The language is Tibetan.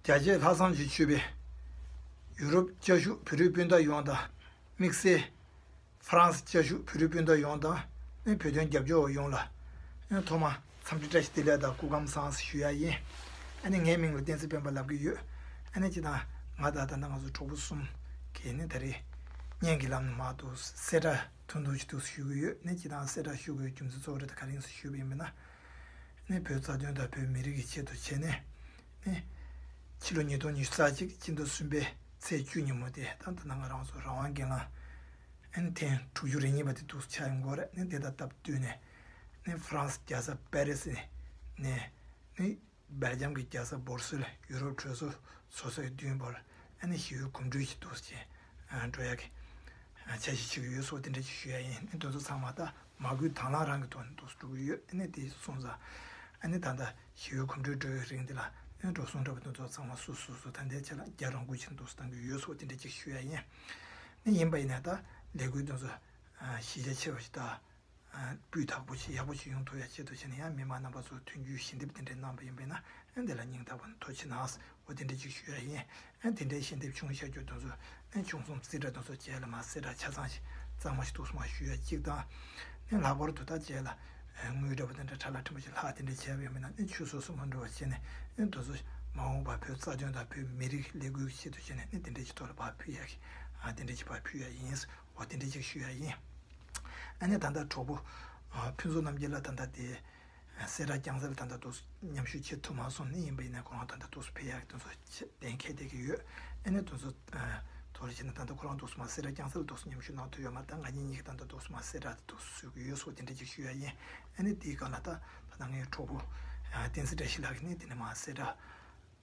རྒྱ་སྐྱེད་ལྷ་བསང་གཅིག་མཆོད་པས། ཡུ་རོབ་བཅའ་བཞུགས་བོད་རིགས་སྤུན་ཟླ་ཡོངས་དང་དམིགས་བསལ། ཧྥ་རན་སི་བཅའ་བཞུགས་བོད་རིགས་སྤུན་ཟླ་ཡོངས་དང་ནས་བོད་དོན་རྒྱབ་སྐྱོར་བ་ཡོངས་ལ། ཐོག་མར་འཚམས་འདྲི་བཀྲ་ཤིས་བདེ་ལེགས་དང་སྐུ་ཁམས་བཟང་ཞུ་ཡ་ཡིན། ངའི་མིང་ལ་བསྟན་སྲིད་དཔོན་པ་ལབ་ཀྱི་ཡོད། ཅེས་དང། ང་དང་ད་ལྟ་ང་ཚོ་གྲོགས་པོ་གསུམ་གྱིས་ནས་ད་རེས་བརྙན་གྱི་ལམ་ནས་མ་གཏོགས་གསལ་བསྒྲགས་ཐུང་ཐུང་ཞིག་ཐུགས་སུ་ཞུ་གི་ཡོད། ཅེས་དང་གསལ་བསྒྲགས་ཞུ་དགོས་པའི་རྒྱུ་མཚན་གཙོ་བོ་རེ་ད་ག་རིང་སུ་ཞུ་བ་ཡིན་པ་ན། ནི་བོད་རྩ་དོན་དང་བོད་མི་རིགས་ཀྱི་ཆེད་དུ་བྱས་ནས་ནི། ཕྱི་ལོ་ཉིས་སྟོང་ཉི་ཤུ་རྩ་གཅིག་སྤྱི་ཟླ་གསུམ་པའི་ཚེས་བཅུ་ཉིན་མོ་དེ་ད་ད་ནངས་རང་སོ་རང་དབང་གི་ངང་ཨན་ཐེངས་དྲུག་ཅུ་རེ་གཉིས་པ་དེ་འདུག་ཆ་ཡང་འགོར་ནི་དེ་དང་སྟབས་བསྟུན་ནས་ནི་ཧྥ་རན་སི་རྒྱལ་ས་པེ་རེ་སི་ནས་ནི། སྦེལ་ཇམ་གྱི་རྒྱལ་ས་སྦོར་སིལ་ཡུ་རོབ་གྲོས་ཚོགས་ཚོགས་གཙོའི་བདུན་བར་ཨ་ནེ་ཞི་ཡོལ་གོམ་བགྲོད་ཀྱིས་གཏུགས་ཅིང་སྒྲོལ་ཡ་གིས་ཆ་ཤས་ཆགས་ཀྱི་ཡོད་སོགས་དེ་འདྲ་ཅིག་ཞུ་ཡ་ཡིན་དོན་ཚོ་ཚང་མ་ད་མ་གུས་དྭང་བླངས་རང་གི་ཐོག་ནས་འདུག་སུ་འགྲོ་གི་ཡོད་ཨ་ནེ་དེ་གསུངས་ཙང་ཨ་ནེ་ད་ལྟ་ཞི་ཡོལ་གོམ་བགྲོད་འགྲོ་བའི་རིང་འདི་ལ་ཨོན་འགྲོ་སོང་འདྲ་བ་དོན་ཚོ་ཚང་མ་སུ་སུ་སུ་ད་འདའི་ཆ་ལ་རྒྱ་རང་གུས་ཕྱིར་འདུག་སུ་བཏང་གི་ཡོད་སོགས་དེ་འདྲ་ཅིག་ཞུ་ཡ་ཡིན་ནི་ཡིན་པ་ཡིན་ན་ད་ལས་འགུལ་དོན་ཚོ་གཞི་རྒྱ་ཆེ་བ་ཞིག་ད་སྤུས་དག་པོ་ཞིག་ཡག་པོ་ཞིག་ཡོང་ཐུབ་ཡ་ཆེད་དུ་བྱས་ན་ཡང་མི་མང་རྣམ་པ་ཚོ་མཐུན་འགྱུར་ཞལ་འདེབས་དེ་འདྲའི་གནང་བ་ཡིན་པས་ན་དེ་ལ་སྙིང་ཐག་པ་མཐོ་ཆེ་ནའང་འོ་དེ་འདྲའི་ཅིག་ཞུ་ཡ་ཡིན། དེ་འདྲའི་ཞལ་འདེབས་ཆུང་ཤ་རྒྱུག་དོན་ཚོ་ཆུང་གསུམ་རྩིས་ཁྲ་དོན་ཚོ་བྱས་ལ་མ་ཟད་དྲ་ཆ་ཚང་ཞིག་གཙང་མ་ཞིག་འདུག་སོང་བ་ཞུ་ཡ་གཅིག་དང། ལྷག་པར་དུ་ད་བྱས་ལ་དངུལ་འདྲ་པོ་དེ་འདྲ་དྲ་ལ་འཕྲིན་པ་ཞིག་ལྷག་དེ་འདྲའི་བྱས་པ་ཡོད་མེད་ན་ཆུད་ཟོས་སུ་མ་འགྲོ་བ་བྱས་ནས་དོན་ཚོ་མ་འོངས་པར་བོད་རྩ་དོན་དང་བོད་མི་རིགས་ལས་འགུལ་གྱི་ཆེད་དུ་བྱས་ནས་དེ་འདྲའི་ཅིག་ཐོག་ལ་བག་ཕུལ་ཡ་གི་དེ་འདྲའི་ཅིག་བག་ཕུལ་ཡ་ཡིན། བ་དེ་འདྲས་ཅིག་ཞུ་ཡ་ཡིན། ཨ་ནེ་ད་ལྟ་གྲོགས་པོ་ཕུན་ཚོགས་རྣམ་རྒྱལ་ལ་ད་ལྟ་དེ་སེ་ར་རྒྱང་ཟེར་ལ་ད་ལྟ་དུ་མཉམ་ཞུགས་བྱེད་ཐུབ་མ་སོང་ནི་ཡིན་པ་ཡིན་ནའི་ཁོ་རང་ད་ལྟ་དུ་སུ་ཕེ་ཡག་དུ་གདན་ཁེལ་བསྡད་ཀྱི་ཡོད། ཨ་ནེ་དུ་སུ་དོར་བྱས་ན་ད་ལྟ་ཁོ་རང་དུ་སུ་མ་སེ་ར་རྒྱང་ཟེར་ལ་དུ་སུ་མཉམ་ཞུགས་གནང་ཐུབ་ཡོད་མ་ད་ང་གཉིས་གཉིས་ཀྱི་ད་ལྟ་དུ་སུ་མ་སེ་ར་དུ་དུ་སུ་ཞུགས་ཀྱི་ཡོད་སོགས་དེ་འདྲས་ཅིག་ཞུ་ཡ་ཡིན། ཨ་ནེ་དེའི་སྒང་ལ་ད་ད་ལྟ་ངའི་གྲོགས་པོ་བསྟན་སྲིད་བཀྲ་ཤིས་ལགས་ནི་དེ་ནི་མ་སེ་ར།